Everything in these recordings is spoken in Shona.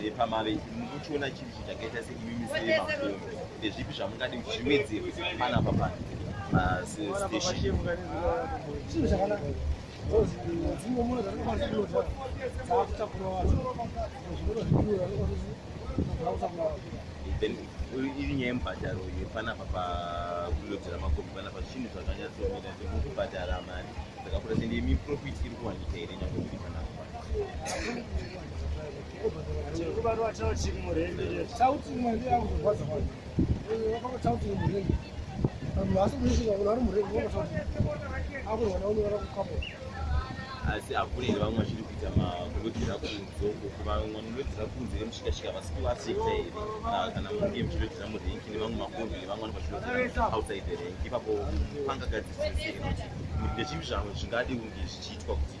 nepamave mukuchiona chiri chichakaita seimimi semakombe ndezvipi zvamungadi kuti zviwedzerwe panapa pano pastation dzimwe muna dzatikabaziota dzaakutakura vanhu zvimero zvidiura zvaakutakura vanhu iri nyaya yemubhadharo yepanapa pakulodzera makombi panapa zvinhu zvakanyatsomira semukubhadhara mari dzakakura sende miprofit iri kuwanika here nyangwe iri panapa asi hakuna here vamwe vachiri kuita makurodzera kunze uko vamwe vanodzera kunze vemushikashika vasi kuasita here kana munge muchirodzera murenki nevamwe makombi nevamwe vano vachirodzera outside the renki ipapo pangagadzisese here kuti ndezvipi zvamwe zvingadi kunge zvichiitwa kuti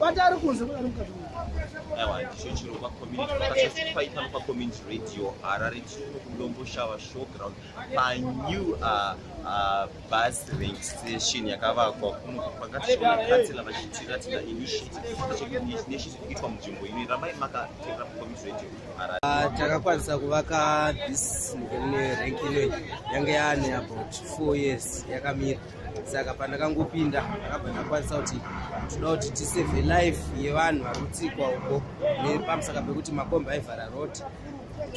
vatari kunze kudari mukati aiwa ndicho chiro pacommunity vakasasifai pano pacommunity radio harare tino kulombo shava showground panew uh, uh, bus rank station yakavakwa kuno pakatikatsela vachitiratira initiative kuitwa munzvimbo ino ramai makateera pacommunity radio harare ah, takakwanisa kuvaka this rank ino yange yaane about four years yakamira saka pandakangopinda ndakabva ndakwanisa kuti toda kuti tisave life yevanhu vari kutsikwa uko nepamusaka pekuti makombi aivhara road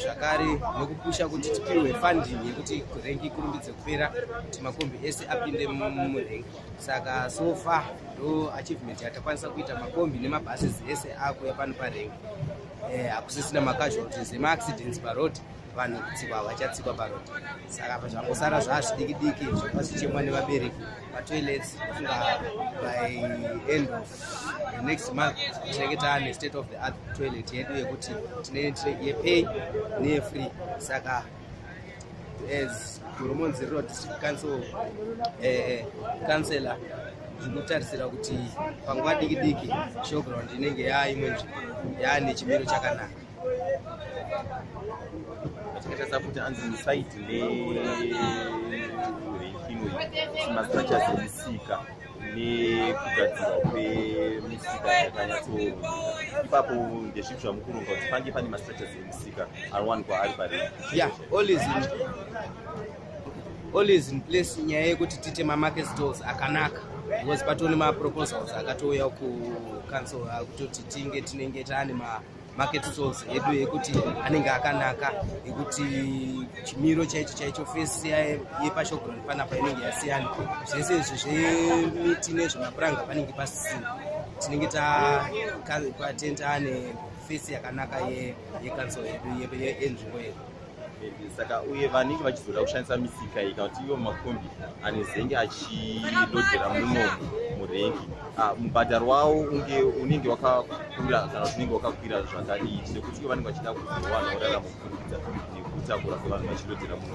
zvakare nekupusha kuti tipiwe funding yekuti rengi ikurumbidze kupera kuti makombi ese apinde murengi saka so far ndo achievement yatakwanisa kuita makombi nemabhases ese akuya pano parengi eh, hakusisina macasualties emaaccidents paroad vanhu kutsikwa vachatsikwa paroad saka pazvangosara zvaazvidiki diki zvava zvichemwa nevabereki vatoilets funga by end of the next month tinenge taane state of the art toilet yedu yekuti tine yepay neyefree saka as gurumonzi riro district council eh, councilor ndinokutarisira kuti panguva diki diki showground inenge yaaimwe nzvimbo yaane chimiro chakanaka kuti anzi site nemastructures emisika nekugadzirwa kwemisika yakanyatso ipapo ndezvipi zvamukuronga kuti pange pane mastructures emisika anowanikwa ari pari yeah always in, always in place nyaya yekuti tiite mamarket stores akanaka because patone maproposals akatouya kucouncil akutoti tinge tinenge taane ma market souls edu yekuti anenge akanaka yekuti chimiro chaicho chaicho fesi yepashogron panapa inenge yasiyana zvese izvi zvemiti nezvemapuranga panenge pasisina tinenge tatenta ane fesi yakanaka yekansol yedu yenzvimbo yedu saka uye vanenge vachizoda kushandisa misika iyi kana kuti ivo makombi anezenge achilodhera muno murengi ah, mubhadharo wawo unge unenge wakakwira kana kuti unenge wakakwira zvakadii nekuti ivo vanenge vachida kuzowana uraramo kuburikidza nekutakura kwevanhu vachilodhera muno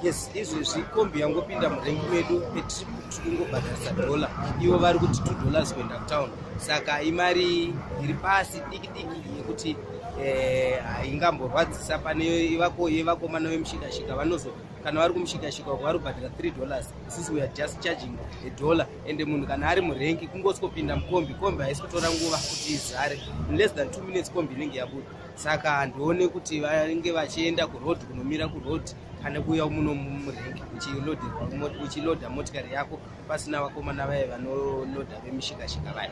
yes izvezvi kombi yangopinda murengi medu petrip tikungobhadharisa dhola ivo vari kuti two dollars kuenda kutown saka imari iri pasi diki diki yekuti eh, ingamborwadzisa pane ivako yevakomana vemushikashika vanozo kana vari kumushikashika uko vari kubhadhira 3 dollars sisi weare just charging a dollar ende munhu kana ari murenki kungosi kopinda mukombi kombi haisi kutora nguva kuti izare in less than two minutes kombi inenge yabuda saka handione kuti vange vachienda kuroad kunomira kuroad kana kuuya muno murenki uchiloda motikari yako pasina vakomana vaye vanonoda vemishikashika vaya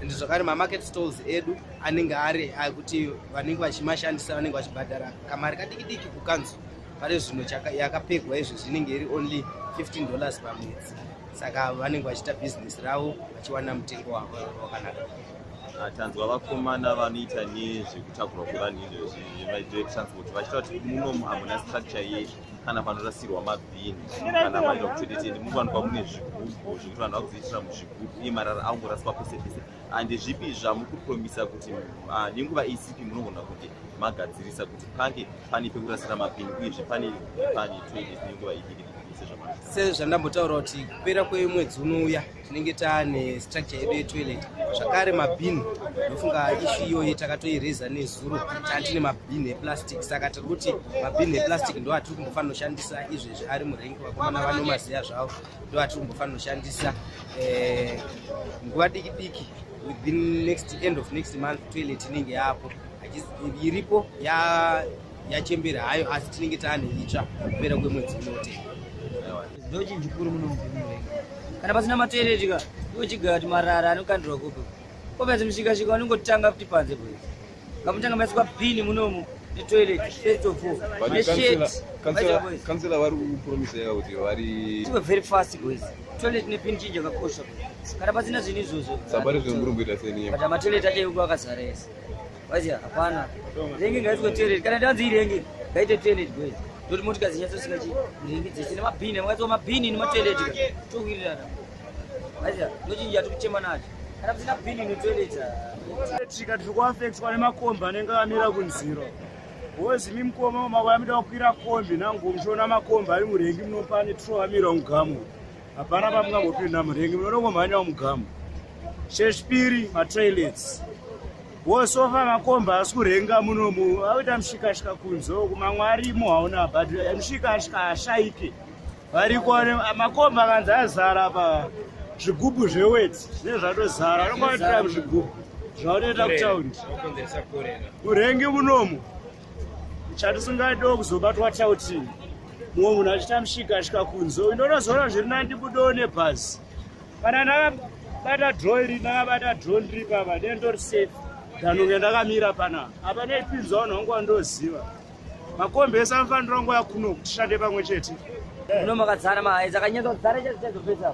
and zvakare mamarket stalls edu anenge ari akuti vanenge vachimashandisa vanenge vachibhadhara kamari kadiki diki kukanzu pari zvino yakapegwa izvo zvinenge iri only 15 dollars pamwedzi saka vanenge vachiita business ravo vachiwana mutengo wavo wakanaka ah, tanzwa vakomana vanoita nezvekutakurwa kwevanhu izvozvi vemaitire transport vachita kuti munomu hamuna structure yei kana panorasirwa mabhini kana maita kuchedetende munowanikwa mune zvigubhu zvekuti vanhu vakuzoitira muzvigubhu iye marara aungoraswa pese pese and zvipi zvamukupromisa kuti ah, nenguva isipi munogona kuti magadzirisa kuti pange pane pekurasira mabhini uyezve pane pane toilet nenguva idiki sezvandambotaura kuti kupera kwemwedzi unouya tinenge taane structure yedu yetoilet zvakare mabhini ndofunga ishu iyoyi takatoireza nezuro taa tine mabhini eplastic saka tiri kuti mabhini eplastic ndo atiri kumbofanira kushandisa izvezvi ari murengi vakomana vanomaziva zvavo ndo atiri kumbofanira kushandisa eh, nguva diki diki within next end of next month toilet inenge yaapo iripo ya yachembera hayo asi tinenge taane itsva kupera kwemwedzi unotenga ndochinji kuri munomuvenga kana pasina materetika ndochiga kuti marara anokandirwa kupi kopenzi mushikashika vanongotanga kuti panze bwe ngamutanga maiswa pini munomu netoilet first of all neshitkansela vari kupromisa yavo kuti vari tiwe very fast boys toilet nepini chinji akakosha kana pasina zvinhu izvozvo sabari zvinhu muri kuita seniye but amatoilet achaikuakazara ese Wazi hapana. Rengi ngaitwe toilet. Kana tanzi irengi ngaite toilet boys. Ndoti motika zinyatso sika chi. Rengi dzese ne mabhini, mwaitwa mabhini ne matoilet. Towirirana. Wazi ndochinja tukuchema nacho. Kana kusina bhini ne toilet. Tika tiri kuafektwa nemakombi anenge amira kunziro. Boys mi mkoma mawamida kukwira kombi nangu mshona makombi ari murengi mnopane tro amira mugamu. hapana pamungambopinda murengi munonongomhanya mugamu chechipiri matoilets wosofa makomba asi kurenga munomu akuita mushikashika kunzo kumamwe arimo hauna but mushikashika hashaike variko makomba akanzi azara pa zvigubhu zveweti zvinenge zvatozara anongoatira muzvigubhu zvaunoita kutaundi murengi munomu chatisingadiwo kuzobatwa chauti mumwe munhu achita mshika asvika kunzo indonozoona zviri nandi budo nebhazi kana ndakabata dro iri ndakabata dro ndiri papa dee ndori safe danonge ndakamira pana apa neipinzwa vanhu vangu vandoziva makombi ese anofanira ngo yakuno kutishande pamwe chete unomakadzana mahaedza kanyatso dzare chazitezopesa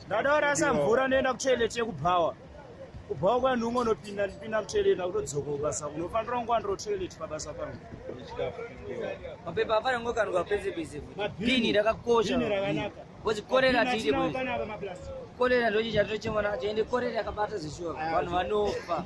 ndada warasa mvura ndoenda kutoilet yekubhawa kubhawa kwanhu umwe unopinda ndipinda kutoilet akutodzoka kubasa unofanira kunge wandiro toilet pabasa pangu mapepa afana ngokanwa pese pese bini rakakosha kozi korera tiite korera ndochichatochemana acho ende korera yakabata zvishuwa vanhu vanofa